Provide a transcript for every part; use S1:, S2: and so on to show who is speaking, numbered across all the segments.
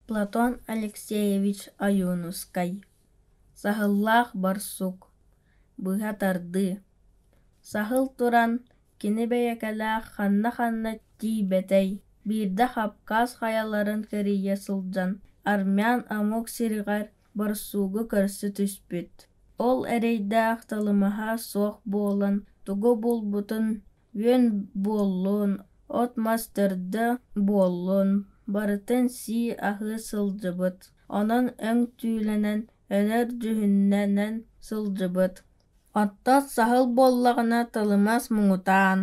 S1: Платон Алексеевич Ойуунускай Саһыллаах барсук Быһа тардыы Саһыл туран кини бэйэкэлээх ханна-ханна тиийбэтэй биирдэ Хапкаас хайаларын кэрийэ сылдьан армян омук сириҕэр барсуугу көрсө түспүт. Ол эрэйдээх талымаһа суох буолан тугу булбутун үөн буоллун, от-мас төрдө буоллун, барытын сии аһыы сылдьыбыт, онон өҥ түүлэнэн, өлөр дьүһүннэнэн сылдьыбыт. Оттон саһыл буоллаҕына тылымас муҥутаан,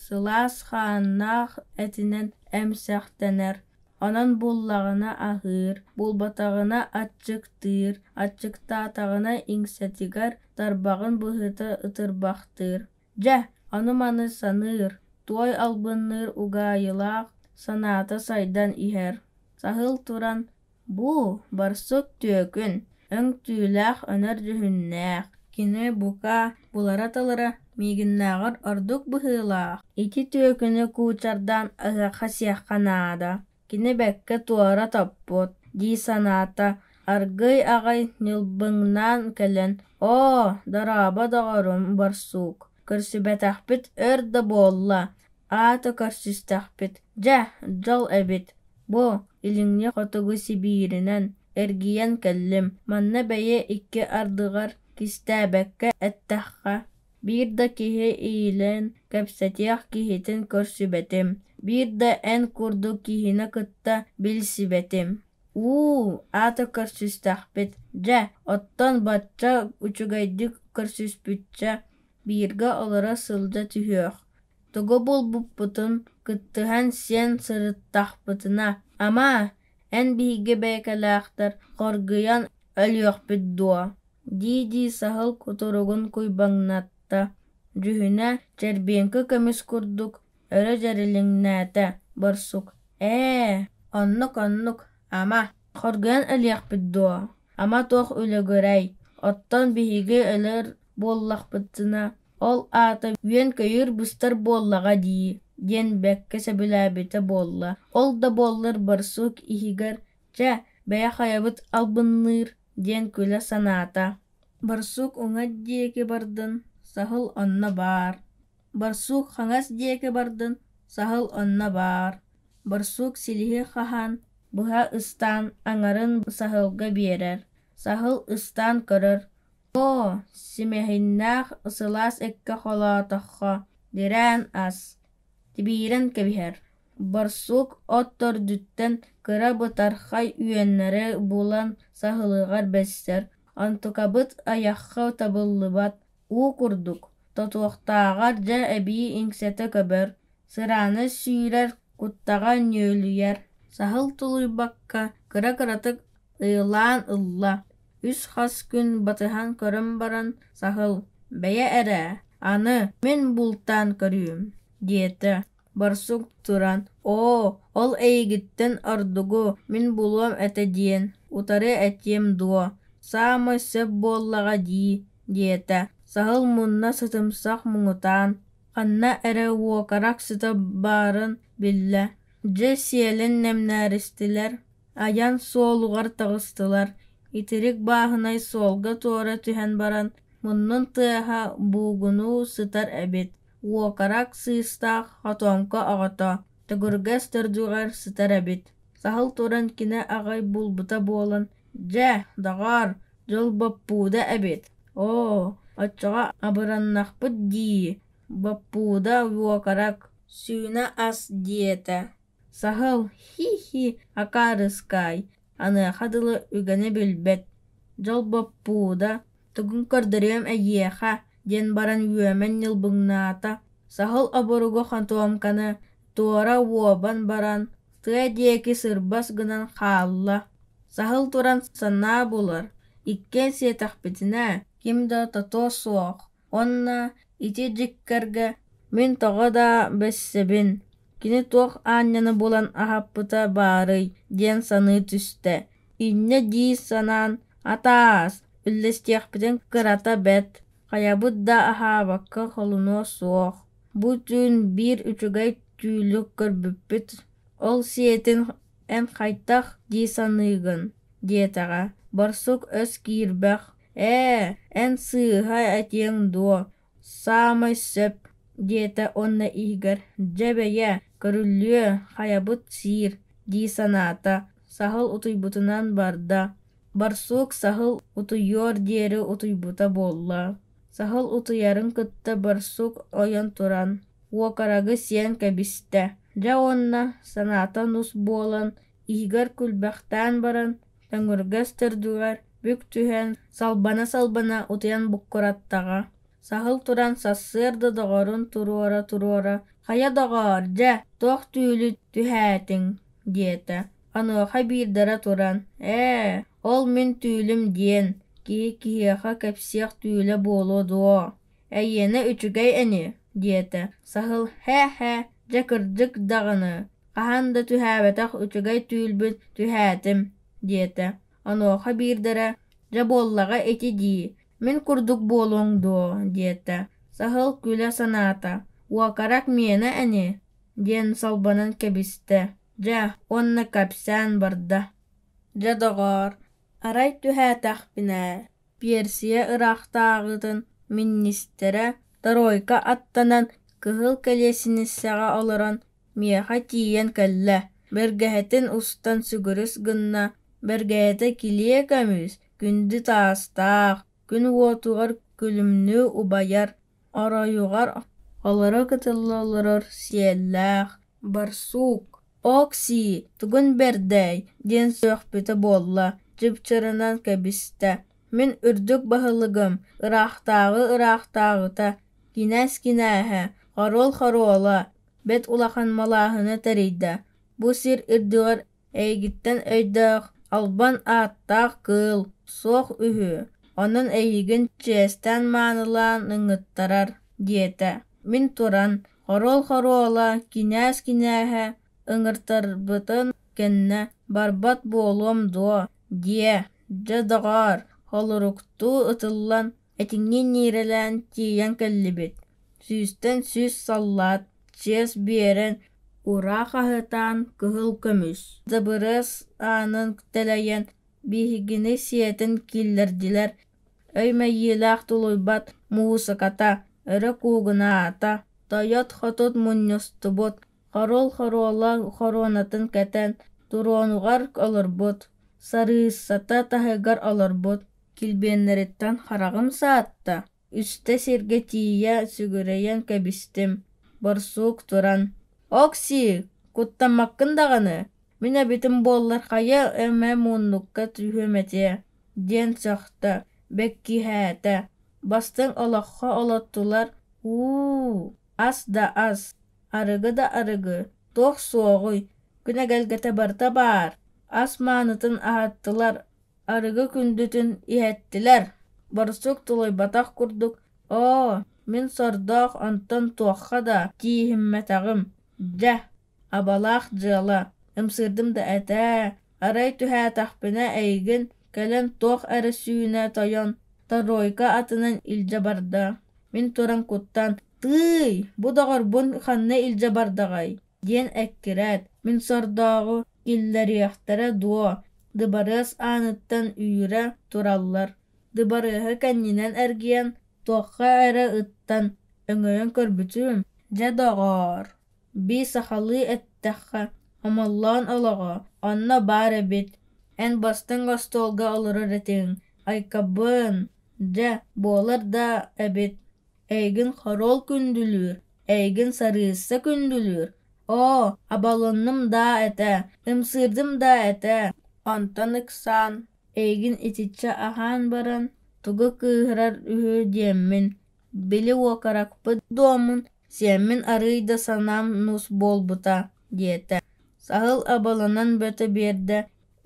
S1: сылаас хааннаах этинэн эмсэхтэнэр, онон буллаҕына аһыыр, булбатаҕына аччыктыыр, аччыктаатаҕына иҥсэтигэр тарбаҕын быһыта ытырбахтыыр. Дьэ, аны-маны саныыр, туой албынныыр угаайылаах санаата сайдан иһэр. Саһыл туран: «Бу барсык түөкүн, өҥтүүлээх өнөр дьүһүннээх, кини бука булара-талара миигиннээҕэр ордук быһыылаах. Ити түөкүнү куучардаан ыһыахха сиэххэ наада» кини бэккэ туора топпут дии санаата аргыый аҕай ньылбыҥнаан кэлэн оо дорообо доҕорум борсуук көрсүбэтэхпит өр да буолла аата көрсүстэхпит дьэ дьол эбит бу илиҥҥи хотугу сибииринэн эргийэн кэллим манна бэйэ икки ардыгар кистээбэккэ эттэххэ Биир да киһи иилээн кэпсэтиэх киһитин көрсүбэтим, биир да эн курдук киһини кытта билсибэтим. Уу, аата көрсүстэхпит. Дьэ, оттон бачча үчүгэйдик көрсүспүччэ бииргэ олоро сылдьа түһүөх. Тугу булбуппутун кыттыһан сиэн сырыттахпытына, ама, эн биһиги бэйэкэлээхтэр хоргуйан өлүөхпүт дуо дии-дии саһыл кутуругун куйбаҥнатта, дьүһүнэ чэрбиэҥкэ көмүс курдук өрө дьэрилиҥнээтэ барсук ээ оннук-оннук ама хоргуйан ылыахпыт дуо ама туох үлүгүрэй оттон биһиги өлөр буоллахпытына ол аата үөн-көйүүр быстар буоллаҕа дии диэн бэккэ сөбүлээбитэ буолла ол да буоллар барсук иһигэр чэ бэйэ хайабыт албынныыр диэн күлэ санаата. Барсук уҥат диэки бардын, саһыл онно баар. Барсук хаҥас диэки бардын, саһыл онно баар. Барсук силиһи хаһан, быһа ыстаан аҥарын саһылга биэрэр. Саһыл ыстаан көрөр. «Оо, симэһиннээх сылаас эккэ холоотоххо, дирээн ас» тибиирэн кэбиһэр. Барсук от төрдүттэн кыра бытархай үөннэри булан саһылыгар бэссэр, онтукабыт айахха табыллыбат, уу курдук, тотуохтааҕар дьэ эбии иҥсэтэ көбөр, сырааны сүүрэр, куттаҕа ньүөлүйэр, саһыл тулуйбакка кыра-кыратык ыйылаан ылла. Үс-хас күн батыһан көрөн баран саһыл: «Бэйэ эрэ, аны мин бултаан көрүүм» диэтэ Барсук туран, «Оо, ол эйигиттэн ордугу, мин булуом этэ диэн, утары этиэм дуо, саамай сөп буоллаҕа дии», диэтэ. Саһыл мунна сытымсах муҥутаан, ханна эрэ уокарақ сыта баарын биллэ. Дьэ сиэлин нэмнээристилэр, айан суолугар таҕыстылар. Итирик бааһынай суолга туора түһэн баран, муннун тыаһа буугунуу сытар эбит. Уокарак сыыстаах хотооҥко оҕото төгүргэс төрдүгэр сытар эбит. Саһыл туран кини аҕай булбута буолан «Дьэ, доҕоор, дьыл боппууда эбит. Оо, оччоҕо абыраннахпыт дии, боппууда уокарак, сүүнэ ас» диэтэ Саһыл, хи-хи, акаарыскаай, аныаха дылы үгэнэ билбэт, дьолбоппууда, тугун көрдөрүөм эйиэхэ, диэн баран үөмэн ньылбыҥнаата, саһыл оборуга хантуомканы туора уобан баран, тыа диэки сырбас гынан хаалла. Саһыл туран санаа булар, иккиэн сиэтэхпитинэ, ким да тото суох Уонна ити дьиккэргэ мин тоҕо да бэссэбин, кини туох аанньаны булан аһаппыта баарый диэн саныы түстэ. Инньэ дии санаан «Атаас, үллэстиэхпитин кырата бэрт, хайабыт да аһаабакка холунуо суох, бу түүн биир үчүгэй түүлү көрбүппүт, ол сиэтин эн хайдах дии саныыгын?» диэтэҕэ. Барсук өс киирбэх ээ эн сыыһа этиэҥ дуо саамай сөп диэтэ уонна иһигэр дьэ бэйэ көрүллүө хайабыт сиир дии санаата саһыл утуйбутунан барда барсук саһыл утуйуор диэри утуйбута буолла саһыл утуйарын кытта барсук ойон туран уокараҕы сиэн кэбистэ дьэ уонна санаата нус буолан иһигэр күлбэхтээн баран Өҥүргэс төрдүгэр бүк түһэн, салбана-салбана утуйан буккураттаҕа. Саһыл туран сарсыарда доҕорун туруора-туруора «Хайа, доҕоор, дьэ, туох түүлү түһээтиҥ?» диэтэ. Онуоха биирдэрэ туран «Ээ, ол мин түүлүм диэн, киһи киһиэхэ кэпсиэх түүлэ буолуо дуо Эйиэнэ үчүгэй ини, диэтэ Саһыл һэ-һэ дьэ кырдьык даҕаны, хаһан да түһээбэтэх үчүгэй түүлбүн түһээтим, диэтэ. Онуоха биирдэрэ дьэ буоллаҕа ити дии, мин курдук буолуоҥ дуо диэтэ Саһыл күлэ санаата. Уокарак миэнэ ини диэн салбанан кэбистэ дьэ уонна кэпсээн барда: Дьэ доҕоор, арай түһээтэхпинэ Пиэрсийэ ыраахтааҕытын миниистирэ Тройко аттанан кыһыл кэлиэсинэссэҕэ олорон миэхэ тиийэн кэллэ, бэргэһэтин устан сүгүрүс гынна, бэргэһэтэ килиэ көмүс, күндү таастаах, күн уотугар күлүмнүү убайар оройугар олоро кытылла олорор сиэллээх барсуук окси тугун бэрдэй диэн сүөхпүтэ буолла дьыпчырынан кэбистэ мин үрдүк баһылыгым ыраахтааҕы ыраахтааҕыта кинээс кинээһэ хоруол хоруола бэт улахан малааһына тэрийдэ бу сир үрдүгэр Эйигиттэн өйдөөх, албан ааттаах кыыл суох үһү, онон эйигин чиэстээн маанылаан ыҥыттарар, диэтэ. Мин туран, хоруол-хоруола, кинээс-кинээһэ ыҥыртарбытын кэннэ «Барбат буолуом дуо?» диэ, дьэ, доҕоор, холоруктуу ытыллан Итиҥҥэ ньиэрэлээн тиийэн кэллибит, сүүстэн сүүс саллаат, чиэс биэрэн, ураа хаһытаан кыһыл көмүс, дыбырыас аанын тэлэйэн, биһигини сиэтин киллэрдилэр, өй мэйиилээх тулуйбат муусуката, өрө куугунаата, тойот-хотут мунньустубут, хоруол хоруола хоруонатын кэтэн, туруонугар олорбут, сарыысата таһыгар олорбут, Килбиэннэриттэн хараҕым саатта, үстэ сиргэ тиийэ сүгүрэйэн кэбистим, борсуук туран: «Окси, куттаммаккын даҕаны, мин эбитим буоллар хайа эмэ мууннукка түһүөм этиэ» диэн сөхтө, бэккиһээтэ. Бастыҥ олоххо олоттулар «уу, ас да ас, арыгы да арыгы, туох суоҕуй, күн эгэлгэтэ барыта баар» ас маанытын аһаттылар арыгы күндүтүн иһэттилэр барсук тулуйбатах курдук оо мин сордоох онтон туохха да тииһиммэтэҕим дьэ абалаах дьыала ымсыырдым да этээ арай түһээтэхпинэ эйигин кэлэн туох эрэ сүүнэ тойон торуойка атынан илдьэ барда мин туран куттаан тыый бу доҕорбун ханна илдьэ бардаҕай диэн эккирээт, мин сордооҕу киллэриэхтэрэ дуо, дыбарыас ааныттан үүрэ тураллар. Дыбарыаһы кэннинэн эргийэн, туохха эрэ ыттан өҥөйөн көрбүтүм, дьэ доҕоор, бии сахалыы эттэххэ, хомоллоон олоҕо, онно баар эбит, эн бастыҥ остуолга олорор этиҥ, Айкабын, дьэ, буолар да эбит эйигин хоруол күндүлүүр эйигин сарыысса күндүлүүр оо абалынным даа этэ ымсыырдым даа этэ онтон ыксаан эйигин итиччэ аһаан баран тугу кыыһырар үһү диэммин били уокаракпыт дуомун сиэммин арыый да санаам нус буолбута диэтэ саһыл абаланан бөтө биэрдэ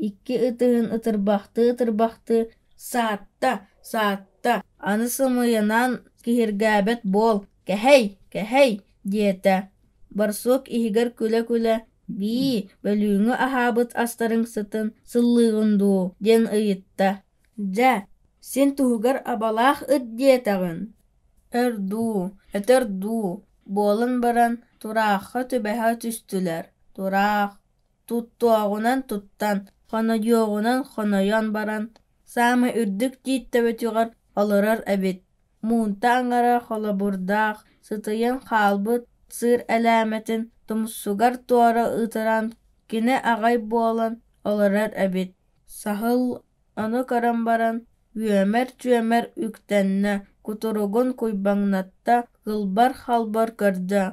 S1: Икки ытыһын ытырбахтыы-ытырбахтыы «Саатта! Саатта! Аны сымыйанан киһиргээбэт буол! Кэһэй! Кэһэй!» диэтэ. Барсук иһигэр күлэ-күлэ «Бии, бөлүүҥҥү аһаабыт астарыҥ сытын сыллыыгын дуу?» диэн ыйытта. «Дьэ, син туһугар абалаах ыт диэтэҕин. Өр дуу, өтөр дуу, буолан баран тураахха түбэһэ түстүлэр. Тураах. Туттуоҕунан туттан, хонойуоҕунан хонойон баран, саамай үрдүк тиит төбөтүгэр олорор эбит. Муунта аҥара холобурдаах, сытыйан хаалбыт сыыр элээмэтин тумсугар туора ытыран, кини аҕай буолан олорор эбит. Саһыл ону көрөн баран, үөмэр-түөмэр үктэннэ, кутуругун куйбаҥнатта, кылбар-халбар көрдө: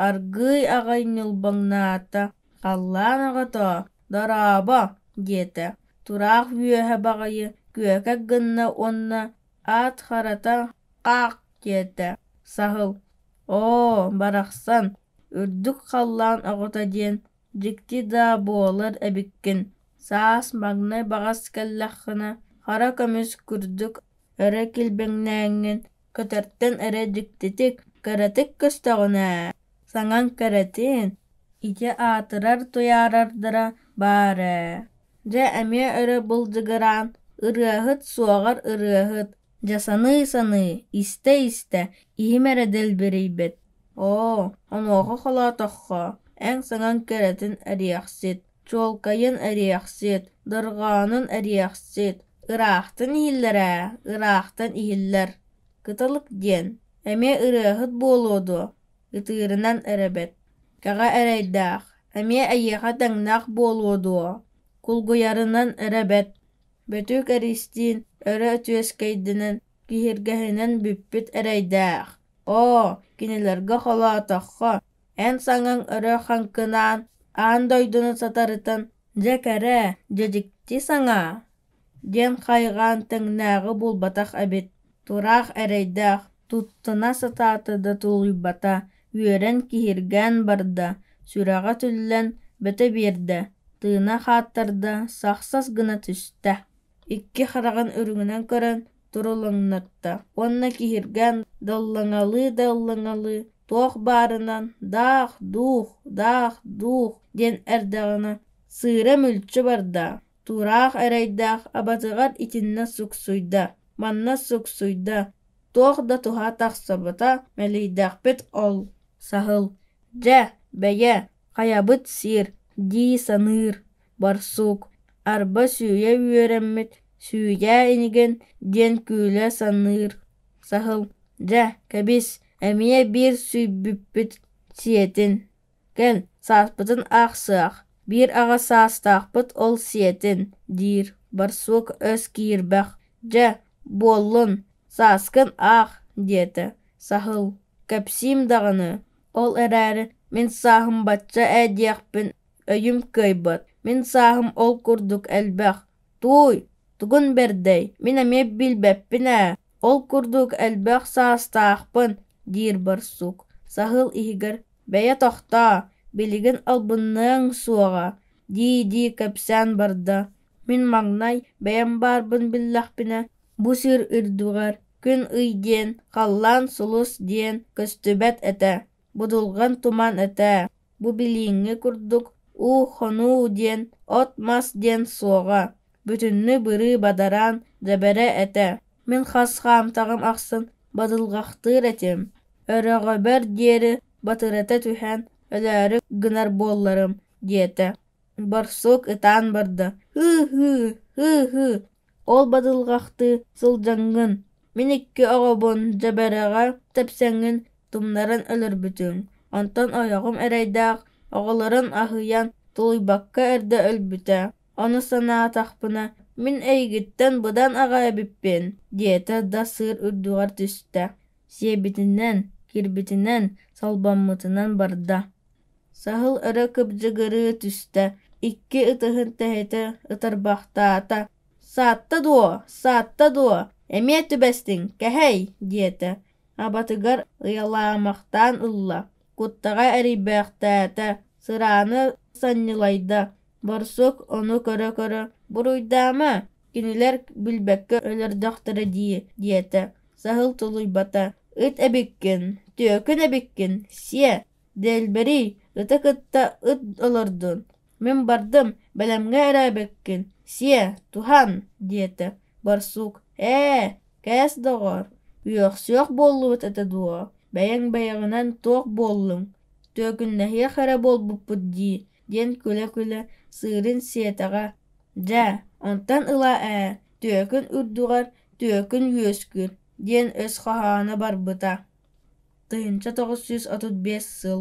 S1: Аргыый аҕай ньылбаҥнаата, «Халлаан оҕотоо, дорообо!» диэтэ. Тураах үөһэ баҕайы күөкэ гынна уонна «Аат харата хаах» диэтэ. Саһыл «Оо, барахсан, үрдүк халлаан оҕото диэн дьикти даа буолар эбиккин, саас маҥнай баҕас кэллэххинэ хара көмүс курдук өрө килбэҥнээҥҥин Көтөртөн эрэ дьиктитик, кыратык көстөҕүнэ, саҥаҥ кэрэтин, ити аатырар-туйаарардара баар ээ Дьэ эмиэ өрө былдьыгыраан, ырыаһыт суоҕар ырыаһыт, дьэ саныы-саныы, истэ-истэ иһим эрэ дэлбэрийбит. Оо, онуоха холоотоххо, эн саҥаҥ кэрэтин эриэхсит чуолкайын эриэхсит дырҕаанын эриэхсит ыраахтан иһиллэрэ ыраахтан иһиллэр кыталык диэн эмиэ ырыаһыт буолуо дуо ытыырынан эрэбэт кэҕэ эрэйдээх эмиэ эйиэхэ тэҥнээх буолуо дуо кулгуйарынан эрэбэт бөтүүк эристиин өрө үтүөскэйдинэн киһиргэһинэн бүппүт эрэйдээх оо кинилэргэ холоотоххо Эн саҥаҥ өрө хаҥкынаан аан дойдуну сатарытын дьэ кэрээ, дьэдьикти саҥаа» диэн хайҕаан тэҥнээҕи булбатах эбит, тураах эрэйдээх, туттана сатаата да тулуйбата, үөрэн киһиргээн барда, сүрэҕэ түллэн бөтө биэрдэ, тыына хааттарда, сахсас гына түстэ. Икки хараҕын үрүҥүнэн көрөн турулуннарда уонна киһиргээн даллаҥалыы да ыллаҥалыы туох баарынан даах дуох даах дуох диэн эрдэҕинэ сыыра мүлчү барда тураах эрэйдээх абатыгар итиннэ суксуйда манна суксуйда туох да туһа тахсыбата мэлийдэхпит ол саһыл дьэ бэйэ хайабыт сиэр дии саныыр барсуук, арба сүүйэ үөрэммит, сүүдээ инигин диэн күлэ саныыр саһыл, дьэ, кэбис, эмиэ биир сүйбүппүт сиэтин, кэл, сааспытын аахсыах, биир аҕа саастаахпыт ол сиэтин, диир барсуук өс киирбэх, дьэ, буоллун, сааскын аах, диэтэ саһыл, кэпсиим даҕаны, ол эрээри мин сааһым бачча ээ диэхпин Өйүм кыайбат, мин сааһым ол курдук элбэх. Тууй, тугун бэрдэй, мин эмиэ билбэппин ээ, ол курдук элбэх саастаахпын, диир барсук. Саһыл иһигэр «Бэйэ тохтоо, билигин албынныаҥ суоҕа» дии-дии кэпсээн барда. Мин маҥнай бэйэм баарбын биллэхпинэ бу сир үрдүгэр күн ый диэн, халлаан сулус диэн көстүбэт этэ. Будулган туман этэ, бу билиҥҥи курдук уу-хонуу диэн от-мас диэн суоҕа, бүтүннүү бырыы бадараан дэбэрэ этэ. Мин хас хаамтаҕым ахсын бадылҕахтыыр этим, өрөҕөбөр диэри батырыта түһэн өлөөрү гынар буолларым, диэтэ. Барсук ытаан барда: «Һыы-һыы, һыы-һыы Ол бадылҕахтыы сылдьаҥҥын, мин икки оҕобун дьэбэрэҕэ тэпсэҥҥин тумнаран өлөрбүтүҥ, онтон ойоҕум эрэйдээх оҕолорун аһыйан тулуйбакка эрдэ өлбүтэ, ону санаатахпына мин эйигиттэн быдан аҕа эбиппин, диэтэ да сыыр үрдүгэр түстэ сиэбитинэн, киирбитинэн, солбоммутунан барда. Саһыл өрө кыбдьыгырыы түстэ, икки ытыһын тэһитэ ытырбахтаата. «Саатта дуо? Саатта дуо? Эмиэ түбэстиҥ, кэһэй!» диэтэ. Абатыгар ыйалаамахтаан ылла. куттаҕа эрийбэхтээтэ, сырааны санньылайда, борсук ону көрө-көрө «Буруйдаама, кинилэр билбэккэ өлөрдөхтөрө дии» диэтэ, саһыл тулуйбата. «Ыт эбиккин, түөкүн эбиккин, сиэ, дэлбэрий, ыты кытта ыт олордун» мин бардым бэлэмҥэ эрээбиккин сиэ туһан диэтэ барсук ээ кээс доҕоор үөхсүөх буоллубут этэ дуо бэйэҥ бэйэҕинэн туох буоллуҥ түөкүннэһиэх эрэ буолбуппут дии диэн күлэ-күлэ сыырын сиэтэҕэ дьэ онтон ыла ээ түөкүн үрдүгэр түөкүн үөскүүр диэн өс хоһооно барбыта тыһыынча тоҕус сүүс отут биэс сыл